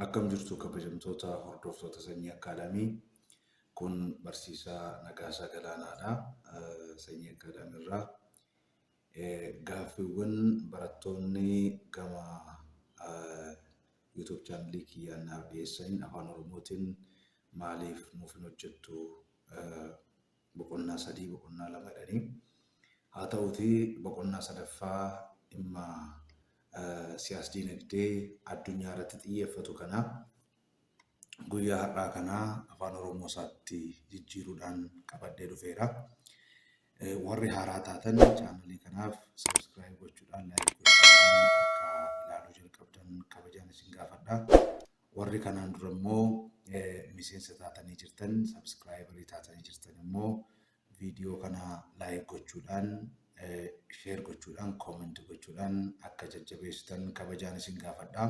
Akkam jirtu kabajamtoota hordoftoota sanyii akkaadaamii kun barsiisaa Nagaasaa Galaanaadha. Sanyii akkaadaamii irraa Gaaffiiwwan barattoonni gama YouTube channel kiyyaan naaf dhiyeessaniin afaan oromootiin maaliif nuuf hin hojjettu boqonnaa sadii boqonnaa lama jedhanii haa ta'uutii boqonnaa sadaffaa dhimma siyaas diinagdee addunyaa irratti xiyyeeffatu kana guyyaa har'aa kana afaan oromoo isaatti jijjiiruudhaan qabadhee dhufeera. Warri haaraa taatan chaanalii kanaaf sabiskiraayib gochuudhaan laayik gochuudhaan akka ilaaluu jalqabdan kabajaan isin gaafadha. Warri kanaan dura immoo miseensa taatanii jirtan sabiskiraayibarii taatanii jirtan immoo Video kana like gochuudhaan, share gochuudhaan, comment gochuudhaan akka jajjabeessitan kabajaan isin gaafadha.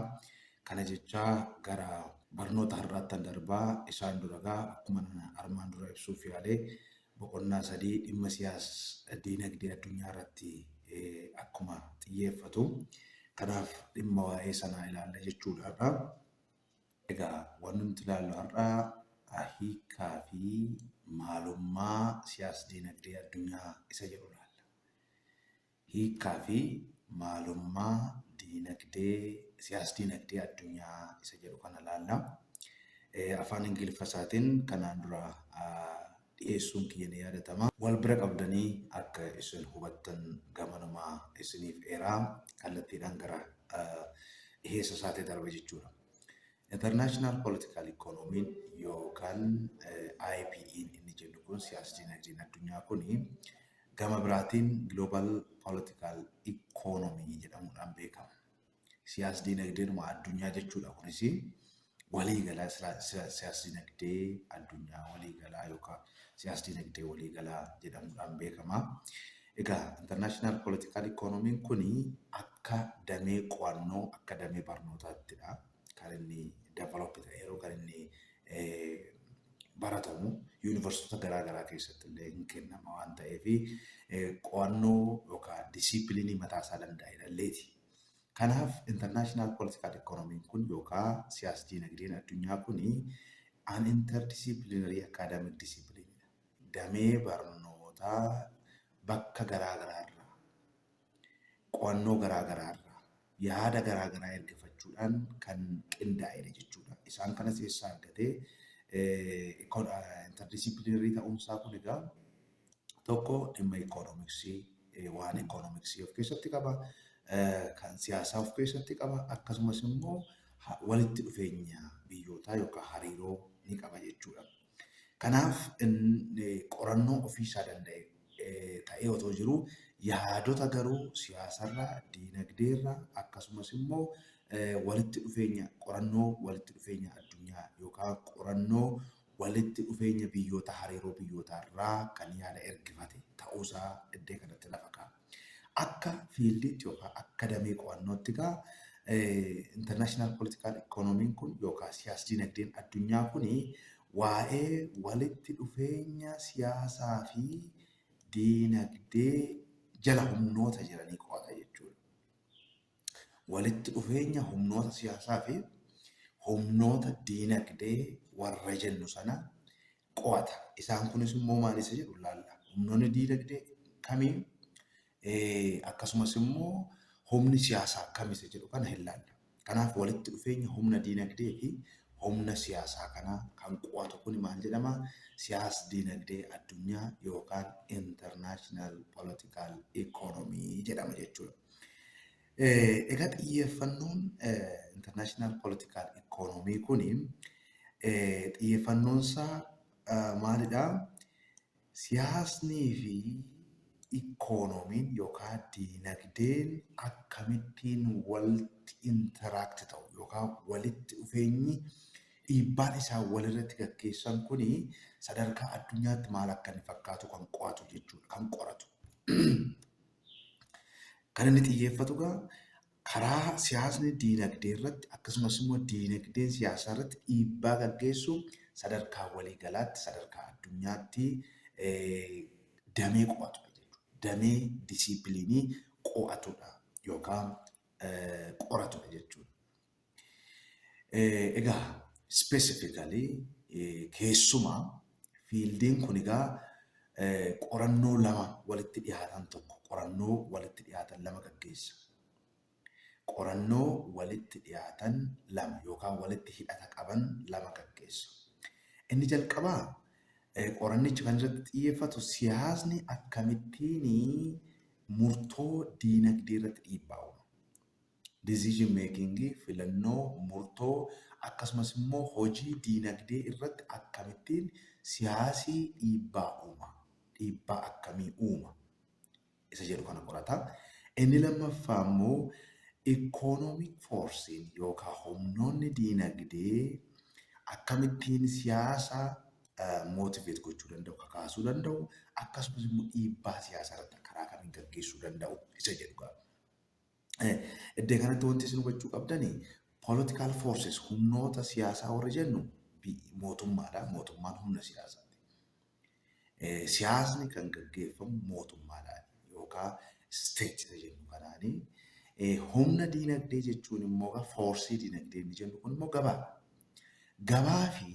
Kana jechaa gara barnoota har'aattan darbaa isaan duragaa akkuma armaan dura ibsuuf yaale boqonnaa sadii dhimma siyaas diinagdee addunyaa irratti akkuma xiyyeeffatu. Kanaaf dhimma waa'ee sanaa ilaalla jechuudha. Egaa wanni nuti ilaallu har'a hiikkaa fi maalummaa siyaas-diinagdee addunyaa isa jedhu ilaalla. Hiikkaa fi maalummaa diinagdee siyaas-diinagdee addunyaa isa jedhu kana ilaalla. Afaan Ingiliffa isaatiin kanaan dura dhiheessuun kiyya ni yaadatama. Wal bira qabdanii akka isin hubattan gamanuma isiniif eera. Kallattiidhaan gara dhiheessa isaatti darba jechuudha. International Political Economy yookaan IPE'n inni jennu kun siyaasa dinagdeen addunyaa kun gama biraatiin Global Political Economy jedhamuudhaan beekama. siyaas-diinagdeenuma addunyaa jechuudha. Kunis waliigalaa siyaas-diinagdee addunyaa waliigalaa yookaan siyaas-diinagdee waliigalaa jedhamuudhaan beekama. Egaa intarnaashinaal poolitikaal ikoonomiin kun akka damee qo'annoo akka damee barnootaattidha kan inni develop ta'e yeroo kan inni baratamu yuunivarsiitota garaa garaa keessatti illee hin kennama waan ta'eef qo'annoo yookaan disiipiliinii mataa isaa danda'e dhalleeti. Kanaaf International Political Economy kun yookaa siyaas-diinagdeen addunyaa kun an interdisciplinary academic discipline dha. Damee barnootaa bakka garaa garaa irraa, qo'annoo garaa garaa irraa, yaada garaa garaa ergafachuudhaan kan qindaa'e dha jechuu dha. Isaan kanas eessaa argate? Interdisciplinary ta'uun isaa kun egaa tokko dhimma ikoonomiksii waan ikoonomiksii of keessatti qaba, kan siyaasaa of keessatti qaba akkasumas immoo walitti dhufeenya biyyootaa yookaan hariiroo ni qaba jechuudha. Kanaaf qorannoo ofiisaa danda'e ta'ee otoo jiruu yaadota garuu siyaasarraa, diinagdeerraa akkasumas immoo walitti dhufeenya qorannoo walitti dhufeenya addunyaa yookaan qorannoo walitti dhufeenya biyyoota hariiroo biyyootaa irraa kan yaada ergifate ta'uu isaa iddee kanatti lafa kaa'a. Akka fiildiitti yookaa akka damee qo'annootti egaa international political economy kun yookaa siyaas-dinagdeen addunyaa kun waa'ee walitti dhufeenya siyaasaa fi dinagdee jala humnoota jiranii qo'ata jechuudha. walitti dhufeenya humnoota siyaasaa fi humnoota diinagdee warra jennu sana qo'ata. Isaan kunis immoo maal isa jedhu laalla. Humnoonni diinagdee kamii akkasumas immoo humni siyaasaa kam isa jedhu kana hin laalla. Kanaaf walitti dhufeenya humna diinagdee fi humna siyaasaa kana kan qo'atu kun maal jedhama? Siyaas diinagdee addunyaa yookaan international political economy jedhama jechuudha. Egaa xiyyeeffannoon international political economy kun xiyyeeffannoon isaa maalidha? Siyaasnii fi ikoonomiin yookaan diinagdeen akkamittiin walitti interact ta'u yookaan walitti dhufeenyi dhiibbaan isaan walirratti gaggeessan kun sadarkaa addunyaatti maal akka inni fakkaatu kan qo'atu jechuudha. Kan qoratu. Kan inni xiyyeeffatu egaa karaa siyaasni diinagdee irratti akkasumas immoo diinagdeen siyaasaa irratti dhiibbaa gaggeessu sadarkaa walii galaatti sadarkaa addunyaatti damee qo'atudha jechuudha. Damee disiipiliinii qo'atudha yookaan qoratudha jechuudha. Egaa specifically keessumaa fiildiin kun egaa qorannoo lama walitti dhiyaatan tokko qorannoo walitti dhiyaatan lama gaggeessa. Qorannoo walitti dhiyaatan lama yookaan walitti hidhata qaban lama gaggeessa. Inni jalqabaa qorannichi kan irratti xiyyeeffatu siyaasni akkamittiin murtoo diinagdee irratti dhiibbaa uuma. decision making, filannoo, murtoo, akkasumas immoo hojii diinagdee irratti akkamittiin siyaasi dhiibbaa uuma, dhiibbaa akkamii uuma isa jedhu kana qorata. Inni lammaffaa immoo economic force'n yookaan humnoonni diinagdee akkamittiin siyaasa motivate gochuu danda'u, kakaasuu danda'u, akkasumas immoo dhiibbaa siyaasaa irratti karaa kamiin gaggeessuu danda'u isa jedhu qaba. Iddoo kanatti wanti isin hubachuu qabdani political forces humnoota siyaasaa warri jennu mootummaadha. Mootummaan humna siyaasaati. Siyaasni kan gaggeeffamu mootummaadhaan yookaan state jennu kanaani. Humna diinagdee jechuun immoo foorsii diinagdee inni jennu kun immoo gabaadha. Gabaa fi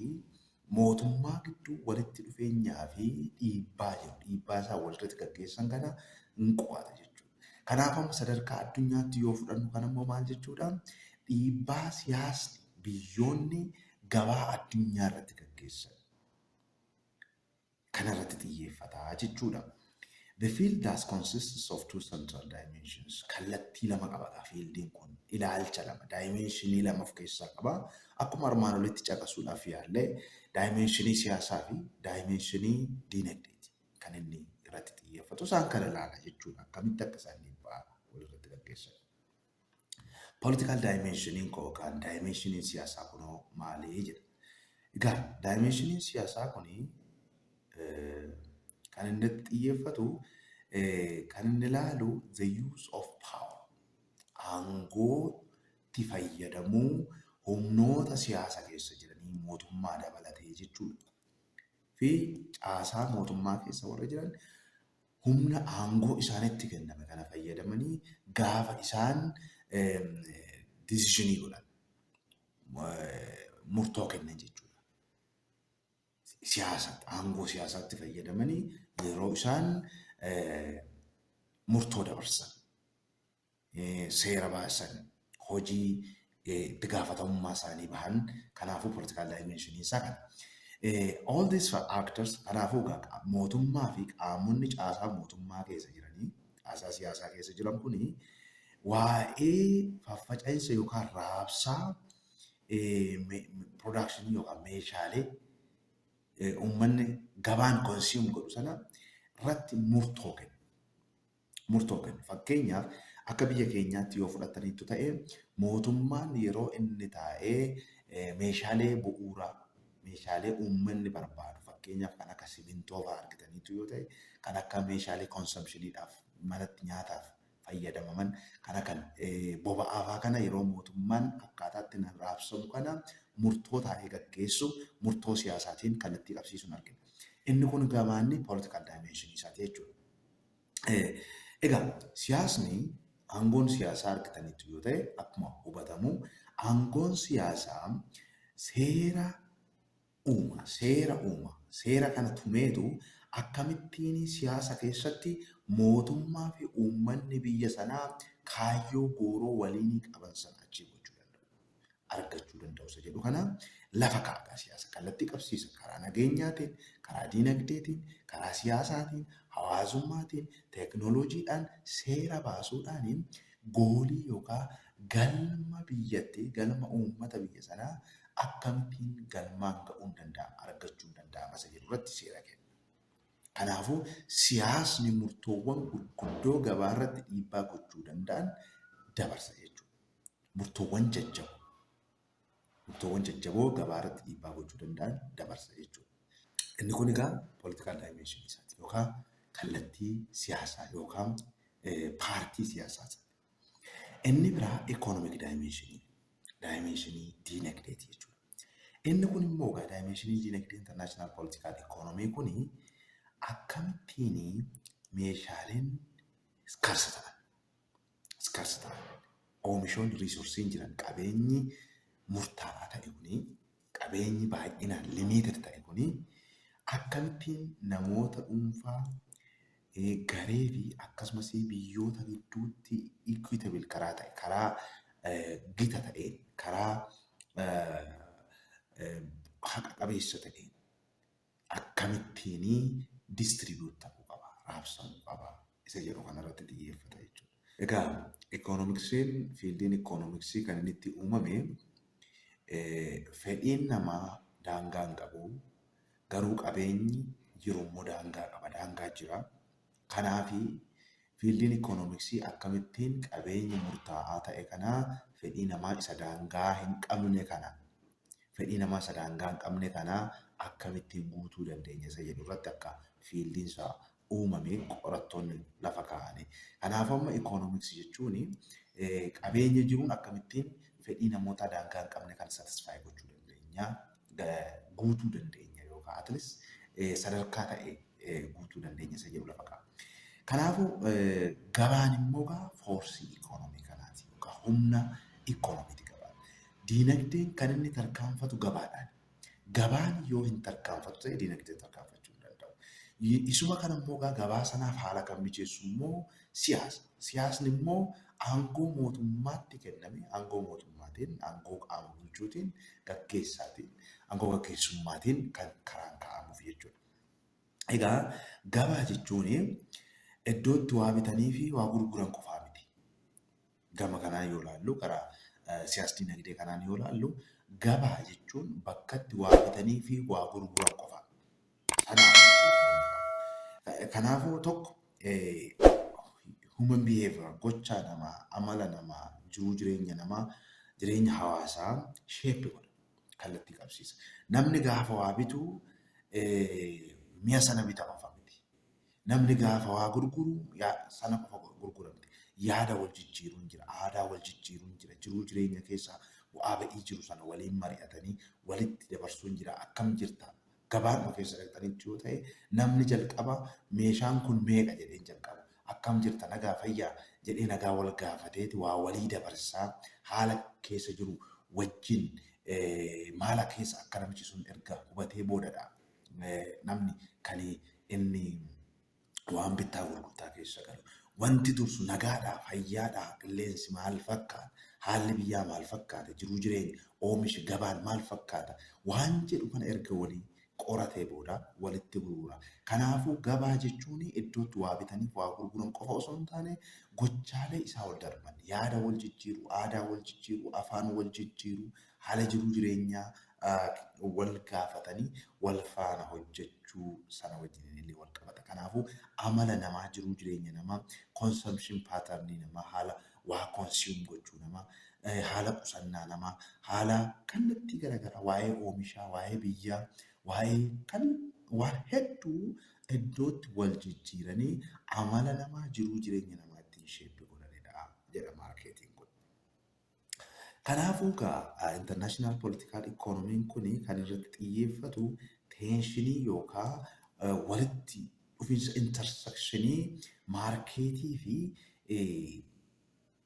mootummaa gidduu walitti dhufeenyaa fi dhiibbaa jiru, dhiibbaa isaan walirratti gaggeessan kana hin qo'ata jechuudha. Kanaaf amma sadarkaa addunyaatti yoo fudhannu kan ammoo maal jechuudha? Dhiibbaa siyaasni biyyoonni gabaa addunyaa irratti gaggeessan kana irratti xiyyeeffata jechuu dha. The field thus consists of two central dimensions. Kallattii lama qaba egaa fiildiin kun. Ilaalcha lama, daayimeenshinii lama of keessaa qaba. Akkuma armaan olitti caqasuudhaaf yaalle daayimeenshinii siyaasaa fi daayimeenshinii diinagdeeti kan inni irratti xiyyeeffatu. Isaan kana ilaala jechuu dha. Akkamitti akka isaan dhiibbaa walirratti gaggeessan. Political dimensioniin koo yookaan dimensioniin siyaasaa kunoo maali jedha. Egaa dimensioniin siyaasaa kun kan inni irratti xiyyeeffatu kan inni ilaalu the use of power aangootti fayyadamuu humnoota siyaasa keessa jiranii mootummaa dabalatee jechuudha. Fi caasaa mootummaa keessa warra jiran humna aangoo isaanitti kenname kana fayyadamanii gaafa isaan decisionii godhan murtoo kennan jechuudha. Siyaasa aangoo siyaasaatti fayyadamanii yeroo isaan murtoo dabarsan. seera baasan hojii itti gaafatamummaa isaanii bahan kanaafuu political dimension isaa kana. All these factors kanaafuu egaa mootummaa fi qaamonni caasaa mootummaa keessa jiranii caasaa siyaasaa keessa jiran kuni waa'ee faffaca'insa yookaan raabsaa production yookaan meeshaalee uummanni gabaan consume godhu sana irratti murtoo kennu. murtoo kennu. Fakkeenyaaf akka biyya keenyaatti yoo fudhattaniittu ta'e mootummaan yeroo inni taa'ee meeshaalee bu'uuraa meeshaalee uummanni barbaadu fakkeenyaaf kan akka simintoo fa'aa argitaniitu yoo ta'e kan akka meeshaalee konsamshiniidhaaf manatti nyaataaf fayyadamaman kana kan boba'aa fa'aa kana yeroo mootummaan akkaataatti nan raabsamu kana murtoo taa'ee gaggeessu murtoo siyaasaatiin kallattii qabsiisuun argina. Inni kun gamaanni political dimension isaati jechuudha. Egaa siyaasni aangoon siyaasaa argitaniitu yoo ta'e akkuma hubatamu aangoon siyaasaa seera uuma seera uuma seera kana tumeetu akkamittiin siyaasa keessatti mootummaa fi uummanni biyya sanaa kaayyoo gooroo waliinii qaban sana achiin gochuu danda'u. argachuu danda'u isa jedhu kana lafa kaa'a siyaasa kallattii qabsiisa karaa nageenyaatiin karaa diinagdeetiin karaa siyaasaatiin hawaasummaatiin teeknooloojiidhaan seera baasuudhaan goolii yookaan galma biyyattii galma uummata biyya sanaa akkamittiin galmaan ga'uun danda'ama argachuun danda'ama isa jedhu irratti seera kenna. Kanaafuu siyaasni murtoowwan gurguddoo gabaa irratti dhiibbaa gochuu danda'an dabarsa jechuudha. murtoowwan jajjaboo murtoowwan jajjaboo gabaa irratti dhiibbaa gochuu danda'an dabarsa jechuudha. Inni kun egaa political dimension isaati yookaan kallattii siyaasaa yookaan paartii siyaasaa sana. Inni biraa economic dimension dimension diinagdeeti jechuudha. Inni kun immoo egaa dimension diinagdee international political economy kun akkamittiin meeshaaleen scarce ta'an Scarcity. Oomishoonni resource'n jiran qabeenyi murtaawaa ta'e kuni qabeenyi baay'inaan limited ta'e kuni akkamittiin namoota dhuunfaa garee fi akkasumas biyyoota gidduutti equitable karaa ta'e karaa gita ta'een karaa haqa qabeessa ta'een akkamittiin distribute ta'uu qaba, raabsamuu qaba isa jedhu kanarratti xiyyeeffata jechuudha. Egaa ikoonomiksiin fiildiin ikoonomiksii kan inni itti uumame fedhiin namaa daangaa hin qabu garuu qabeenyi jiru immoo daangaa qaba daangaa jira. Kanaaf fiildiin ikoonomiksii akkamittiin qabeenya murtaa'aa ta'e kana fedhii namaa isa daangaa hin qabne kana fedhii namaa isa daangaa hin qabne kana akkamittiin guutuu dandeenya isa jedhu irratti akka fiildiin isaa uumame qorattoonni lafa kaa'ani. Kanaafuu amma ikoonomiksii jechuun qabeenya jiruun akkamittiin fedhii namootaa daangaa hin qabne kan satisfaayi gochuu dandeenya guutuu dandeenya yookaan atlis sadarkaa ta'e guutuu dandeenya isa jedhu lafa kaa'a. Kanaafuu gabaan immoo foorsii ikoonomii kanaati yookaan humna ikoonomiiti gabaan. Diinagdeen kan inni tarkaanfatu gabaadhaani. Gabaan yoo hin tarkaanfatu ta'e diinagdeen tarkaanfachuu hin danda'u. Isuma kana immoo egaa gabaa sanaaf haala kan mijeessu immoo siyaasa. Siyaasni immoo aangoo mootummaatti kenname aangoo mootummaatiin, aangoo qaama bulchuutiin, gaggeessaatiin, aangoo gaggeessummaatiin kan karaan kaa'amuuf jechuudha. Egaa gabaa jechuun iddoo itti waa bitanii fi waa gurguran qofaa miti. gama kanaan yoo ilaallu karaa siyaas dinagdee kanaan yoo ilaallu gabaa jechuun bakkatti waa bitanii fi waa gurguran qofa. Kanaaf kanaafuu tokko human behavior gochaa namaa amala namaa jiruu jireenya namaa jireenya hawaasaa shape godha kallattii qabsiisa. Namni gaafa waa bitu mi'a sana bita qofa miti. Namni gaafa waa gurguru sana qofa gurgura miti. Yaada wal jijjiiruun jira, aadaa wal jijjiiruun jira, jiruu jireenya keessa bu'aa ba'ii jiru sana waliin mari'atanii walitti dabarsuun jira. Akkam jirta? Gabaadhuma keessa dhaqxanitti yoo ta'e namni jalqaba meeshaan kun meeqa jedheen jalqaba. Akkam jirta? Nagaa fayyaa? jedhee nagaa wal gaafateeti waa walii dabarsaa haala keessa jiru wajjin maala keessa akka namichi sun erga hubatee boodadha. namni kan inni waan bittaa gurgurtaa keessa galu wanti dursu nagaadhaa fayyaadhaa qilleensi maal fakkaata haalli biyyaa maal fakkaata jiruu jireenya oomishi gabaan maal fakkaata waan jedhu kana erga walii qoratee booda walitti gurgura. Kanaafuu gabaa jechuun iddootti waa bitanii waa gurguran qofa osoo hin taane gochaalee isaa ol darban yaada wal jijjiiruu, aadaa wal jijjiiruu, afaan wal jijjiiruu, Haala jiruu jireenyaa wal gaafatanii wal faana hojjechuu sana wajjiniin illee wal qabata. Kanaafuu amala namaa, jiruu jireenya namaa, consumption pattern namaa, haala waa consume gochuu namaa, haala qusannaa namaa, haala kallattii garaagaraa waa'ee oomishaa, waa'ee biyyaa, waa'ee kan waan hedduu iddootti wal jijjiiranii amala namaa, jiruu jireenya namaa ittiin sheeppi godhanidha jedha maarkeetiin kun. Kanaafuu gaa international political economy kun kan irratti xiyyeeffatu teenshinii yookaa walitti dhufinsa intersectionii maarkeetii fi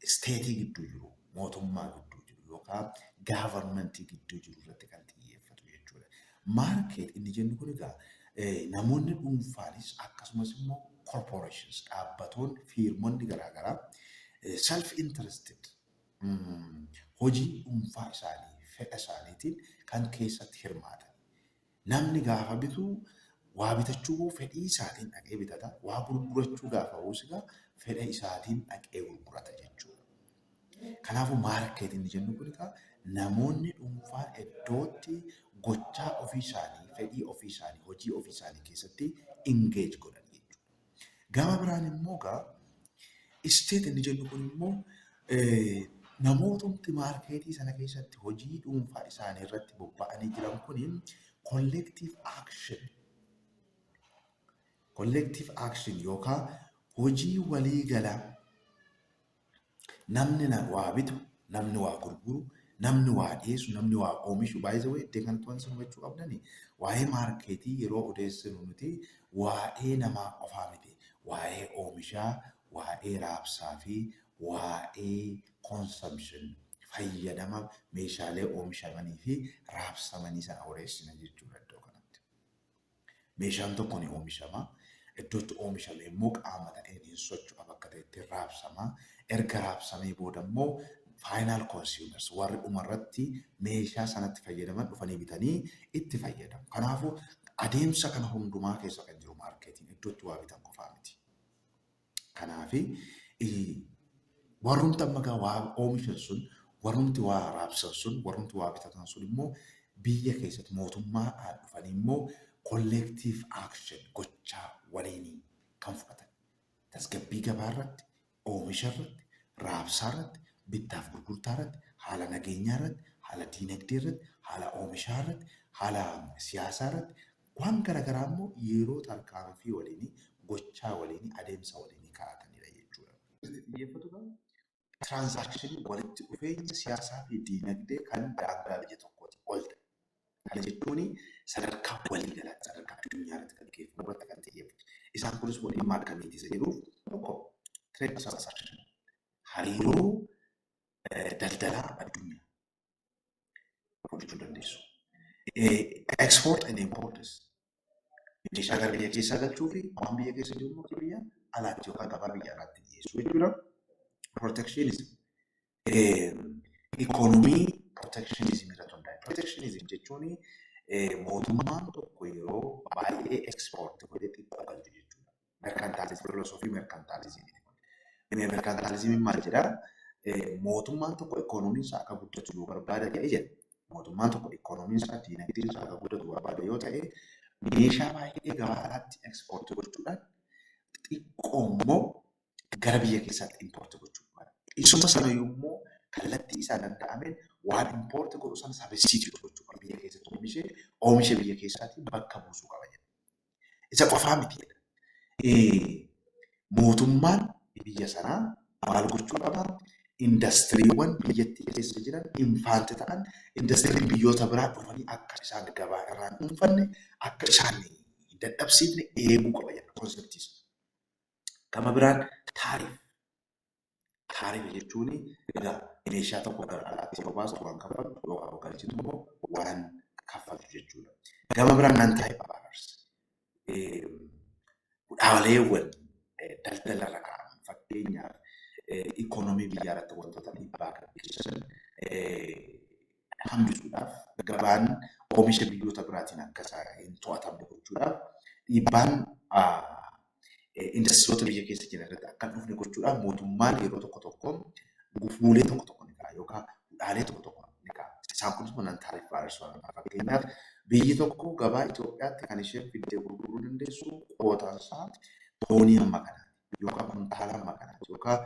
isteetii gidduu jiru mootummaa gidduu jiru yookaa gaavarmentii gidduu jiru irratti kan xiyyeeffatu jechuudha. Market inni jennu kun egaa namoonni dhuunfaanis akkasumas immoo corporations dhaabbatoonni fiirmonni garaa garaa self interested hojii dhuunfaa isaanii fedha isaaniitiin kan keessatti hirmaatan namni gaafa bitu waa bitachuu koo fedhii isaatiin dhaqee bitata waa gurgurachuu gaafa hoosigaa fedha isaatiin dhaqee gurgurata jechuudha. Kanaafuu maarkeetii inni jennu kun egaa namoonni dhuunfaan iddootti gochaa ofii isaanii, fedhii ofii isaanii, hojii ofii isaanii keessatti engage godhan jechuudha. Gama biraan immoo egaa isteet inni jennu kun immoo namootni maarkeetii sana keessatti hojii dhuunfaa isaanii irratti bobba'anii jiran kun collective action collective action yookaan hojii walii galaa Namni na waa bitu, namni waa gurguru, namni waa dhiyeessu, namni waa oomishu by the way iddee kanatti wanti isin hubachuu qabdani waa'ee maarkeetii yeroo odeessinu nuti waa'ee namaa qofaa miti waa'ee oomishaa, waa'ee raabsaa fi waa'ee consumption fayyadama meeshaalee oomishamanii fi raabsamanii sana odeessina jechuudha iddoo kanatti. Meeshaan tokko ni oomishama. Iddoo itti oomishame immoo qaama ta'een hin socho'a bakka ta'etti raabsama. Erga raabsamee booda immoo final consumers warri dhuma irratti meeshaa sanatti fayyadaman dhufanii bitanii itti fayyadamu. Kanaafuu adeemsa kana hundumaa keessa kan jiru maarkeetiin iddoo itti waa bitan qofaa miti. Kanaafi warrumti amma gaa waa oomishan sun warrumti waa raabsan sun warrumti waa bitatan sun immoo biyya keessatti mootummaadhaan dhufanii immoo collective action gochaa waliinii kan fudhatan tasgabbii gabaa irratti oomisha irratti raabsaa irratti bittaaf gurgurtaa irratti haala nageenyaa irratti haala diinagdee irratti haala oomishaa irratti haala siyaasaa irratti Waan garagaraa immoo yeroo tarkaanfii waliini, gochaa waliini, adeemsa waliini kaa'atanidha jechuudha. Itti xiyyeeffatu kan tiraansaakshinii walitti dhufeenya siyaasaa fi diinagdee kan daangaa biyya tokkootii ol ta'e. Kana jechuun sadarkaa waliigalaatti, sadarkaa addunyaa irratti gaggeeffamu irratti kan xiyyeeffatu. Isaan kunis immoo dhimma akkamiiti isa jedhuuf, tokko trade transaction, hariiroo daldalaa addunyaa, fudhachuu dandeessu. Export and imports meeshaa gara biyya keessaa galchuu fi waan biyya keessa jiru immoo akka biyya alaatti yookaan gabaa biyya alaatti dhiyeessuu jechuudha. Protectionism ikoonomii protectionism irratti hundaa'e. Protectionism jechuun mootummaan tokko yeroo baay'ee export godhe xiqqoo galchu jechuudha. Merkantaalizim, filosoofii merkantaalizimiiti kun. Merkantaalizimiin maal jedha? Mootummaan tokko ikoonomiin isaa akka guddatu yoo barbaada ta'e jedha. Mootummaan tokko ikoonomiin isaa diinagdeen isaa akka guddatu barbaada yoo ta'e meeshaa baay'ee gabaa alaatti ekspoortii gochuudhaan xiqqoo immoo gara biyya keessaatti impoortii gochuu barbaada. Isuma sana immoo kallattii isaa danda'ameen waan impoortii godhu sana sabistiitii gochuu qaba. Biyya keessatti oomishee oomisha biyya keessaatiin bakka buusuu qaba jedha. Isa qofaa miti jedha. Mootummaan biyya sanaa maal gochuu qaba? Indastiriiwwan biyyattii keessa jiran infaanti ta'an indastiriin biyyoota biraa dhufanii akka isaan gabaa irraa hin dhuunfanne akka isaan hin dadhabsiifne eeguu qaba jedha konseptiis. Gama biraan taariif Kaarime jechuun egaa meeshaa tokko gara alaatti yeroo baastu waan kaffaltu yookaan yoo galchitu immoo waan kaffaltu jechuudha. Gama biraan nan taa'e baanars dhaabaleewwan daldala irra kaa'an fakkeenyaaf ikoonomii biyyaa irratti wantoota dhiibbaa kan geessisan hambisuudhaaf gabaan oomisha biyyoota biraatiin akka isaa hin to'atamne gochuudhaaf dhiibbaan indastiriyoota biyya keessa jiran irratti akka hin dhufne gochuudhaaf mootummaan yeroo tokko tokko gufuulee tokko tokko ni ka'a yookaan hudhaalee tokko tokko ni ka'a. Isaan kunis manaan taariif baay'isuu haala fakkeenyaaf biyyi tokko gabaa Itoophiyaatti kan isheen fiddee gurguruu dandeessu qootaan isaa toonii hamma kanaati. yookaan kuntaala amma kanaati yookaan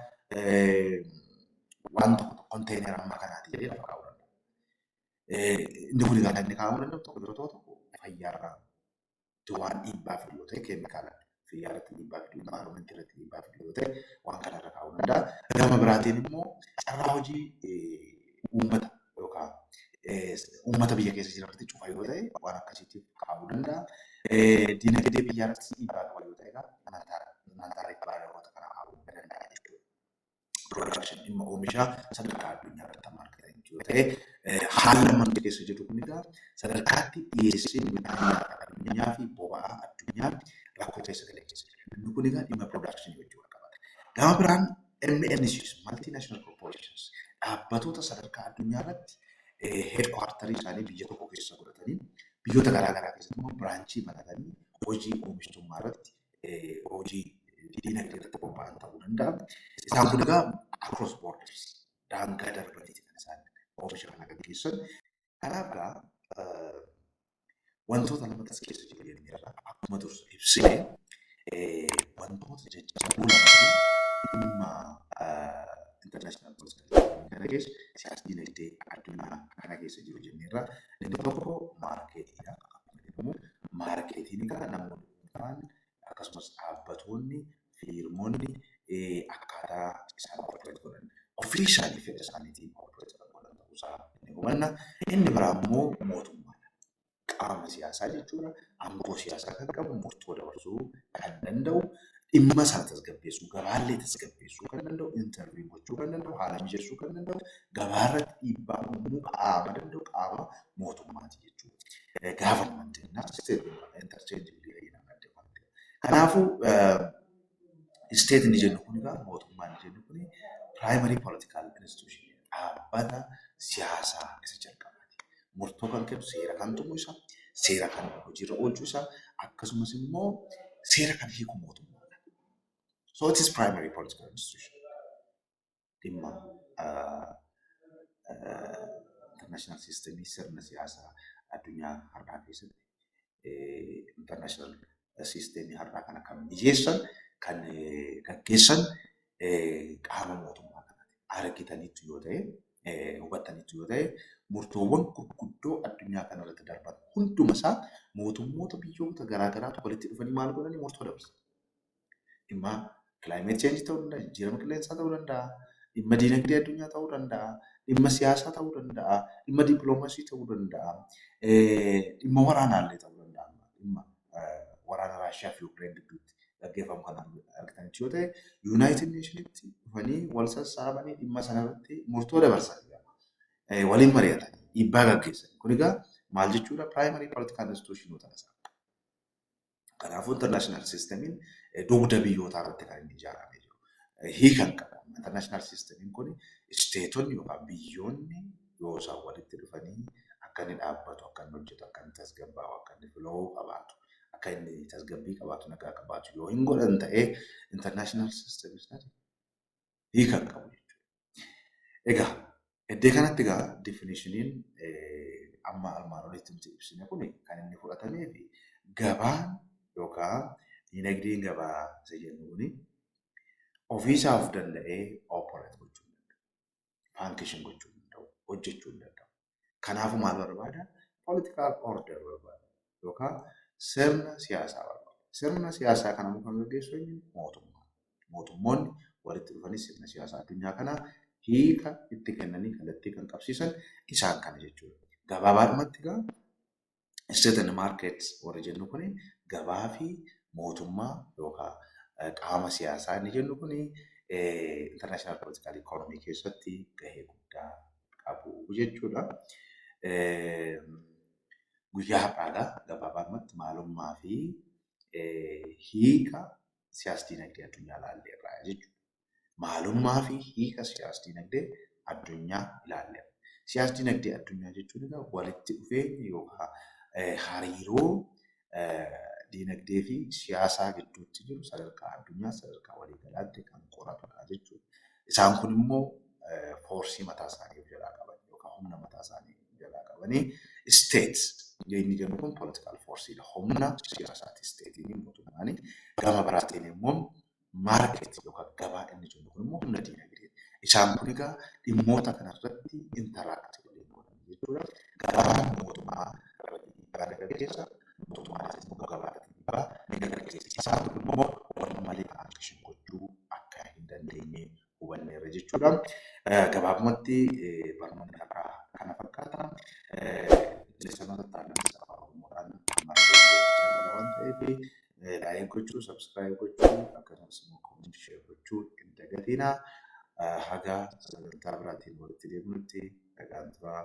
waan tokko tokko konteenera amma kanaati jedhee lafa kaa'uu danda'a. Inni kun egaa kan inni kaa'uu danda'u tokko yeroo tokko tokko fayyaarraa waan dhiibbaa fidu yoo ta'e keemikaala fayyaa irratti dhiibbaa fidu envaayiroomentii irratti dhiibbaa fidu yoo ta'e waan kanarra kaa'uu danda'a. Gama biraatiin immoo carraa hojii uummata yookaan uummata biyya keessa jiran irratti cufa yoo ta'e waan akkasiitiif kaa'uu danda'a. Diinagdee biyyaa irratti dhiibbaa qaba yoo ta'e egaa imaantaa imaantaa ribbaa yerooota kana kaa'uu danda'a jechuudha. Production dhimma oomishaa sadarkaa addunyaa irratti amma argatan yoo ta'e haalli amma nuti keessa jirru kun egaa sadarkaatti dhiyeessiin midhaan nyaataa addunyaa fi boba'aa addunyaa rakkoo keessa galee keessa jira. Inni kun egaa dhimma production wajjin wal qabata. Gama biraan MNCs, Multinational Corporations, dhaabbatoota sadarkaa addunyaa irratti heedkuwaartarii isaanii biyya tokko keessa godhatanii biyyoota garaa garaa keessatti immoo biraanchii banatanii hojii oomishtummaa irratti hojii diinagdee irratti bobba'an ta'uu danda'a. Isaan kun egaa across borders daangaa darbaniiti kan isaan oomisha kana gaggeessan. Kanaaf gaa wantoota namatti as keessa jiru jennee irraa akkuma dursu ibsine wantoota jajjaboo lamatu dhimma international political kana keessa siyaasa dinagdee addunyaa kana keessa jiru jennee irraa inni tokko maarkeetiidha. Akkuma jedhamu maarkeetiin egaa namoonni dhuunfaan akkasumas dhaabbatoonni, fiirmonni akkaataa isaan operate godhan officially fedha isaaniitiin operate kan godhan ta'uu isaa ni hubanna. Inni biraa immoo mootummaadha. Qaama siyaasaa jechuudha. Aangoo siyaasaa kan qabu murtoo dabarsuu kan danda'u dhimma isaa tasgabbeessuu gabaallee tasgabbeessuu kan danda'u interview gochuu kan danda'u haala mijeessuu kan danda'u gabaa irratti dhiibbaa uumuu qaama danda'u qaama mootummaati jechuudha. Gaafannaan jennaa interchange Kanaafuu isteet inni jennu kun egaa mootummaa inni jennu kun primary political institution dhaabbata siyaasaa isa jalqabaati. Murtoo kan kennu seera kan tumu isa, seera kan hojiirra oolchu isa akkasumas immoo seera kan hiiku mootummaadha. So it is primary political institution. dhimma international system sirna siyaasaa addunyaa har'aa keessatti international system har'aa kana kan mijeessan kan gaggeessan qaama mootummaa kanati argitanitti yoo ta'e hubattanitti yoo ta'e murtoowwan gurguddoo addunyaa kanarratti darban hunduma isaa mootummoota biyyoota garaa garaatu walitti dhufanii maal godhanii murtoo dabarsan. Dhimma climate change ta'uu danda'a, jijjiirama qilleensaa ta'uu danda'a, dhimma diinagdee addunyaa ta'uu danda'a, dhimma siyaasaa ta'uu danda'a, dhimma diplomacy ta'uu danda'a, dhimma waraanaallee ta'uu danda'a. Dhimma waraana Raashiyaa fi Yuukireen gidduutti gaggeeffamu kana argitanitti yoo ta'e Yuunaayitid Neeshinitti dhufanii wal sassaabanii dhimma sanarratti murtoo dabarsan waliin mari'atan dhiibbaa gaggeessan. Kun egaa maal jechuudha? Primary political institution ta'uu isaa. Kanaafuu international systemiin dugda biyyootaa irratti kan inni ijaaramee jiru. Hiikan qaba. International systemiin kun isteetonni yookaan biyyoonni yoo isaan walitti dhufanii akka inni dhaabbatu, akka inni hojjetu, akka inni tasgabbaa'u, akka inni flow qabaatu, akka inni tasgabbii qabaatu, nagaa qabaatu yoo hin godhan ta'ee international system is nothing. hiika hin qabu jechuudha. Egaa iddoo kanatti egaa definishiniin amma armaan olitti nuti ibsine kun kan inni fudhatamee fi gabaan yookaan dinagdeen gabaa isa jennu kun ofiisaa of danda'ee operate gochuu hin danda'u. Function gochuu hin danda'u. Hojjechuu hin danda'u. Kanaafuu maal barbaada? Political order barbaada yookaan sirna siyaasaa barbaada. Sirna siyaasaa kana immoo kan gaggeessu eenyu? Mootummaa. Mootummoonni walitti dhufanii sirna siyaasaa addunyaa kanaa hiika itti kennanii kallattii kan qabsiisan isaan kana jechuudha. Gabaabaadhumatti egaa State and market warri jennu kun gabaa fi mootummaa yookaan qaama siyaasaa inni jennu kun international political economy keessatti gahee guddaa qabu jechuudha. Guyyaa har'aadha gabaabumatti maalummaa fi hiika siyaas-dinagdee addunyaa ilaalleerra jechuudha. maalummaa fi hiika siyaas-dinagdee addunyaa ilaalleerra. Siyaas-dinagdee addunyaa jechuun egaa walitti dhufeenya yookaan hariiroo dinagdee fi siyaasaa gidduutti jiru sadarkaa addunyaa sadarkaa waliigalaatti kan qoratudha jechuudha. Isaan kun immoo foorsii mataa isaanii of jalaa qaban yookaan humna mataa isaanii of jalaa qabanii isteet inni jennu kun poolitikaal foorsiidha. Humna siyaasaati isteetiin mootummaan gama biraatiin immoo market yookaan gabaa inni jennu kun immoo humna diinagdee. Isaan kun egaa dhimmoota kana irratti interact waliin godhan jechuudha. Gabaan mootummaa irratti dhiibbaa ni gaggeessa, mootummaanis immoo gabaa irratti dhiibbaa ni gaggeessa. Isaan kun immoo wal malee function gochuu akka hin dandeenye hubanneerra jechuudha. Gabaabumatti barnoonni har'aa kana fakkaata. Leessanoota taa'anis afaan Oromoodhaan marfee hojjechaa jira waan ta'eef laayik gochuu, sabskiraayib gochuu akkasumas immoo koomentii sheer gochuu hin dagatina. Haga sagantaa biraatiin walitti deebinutti nagaan turaa.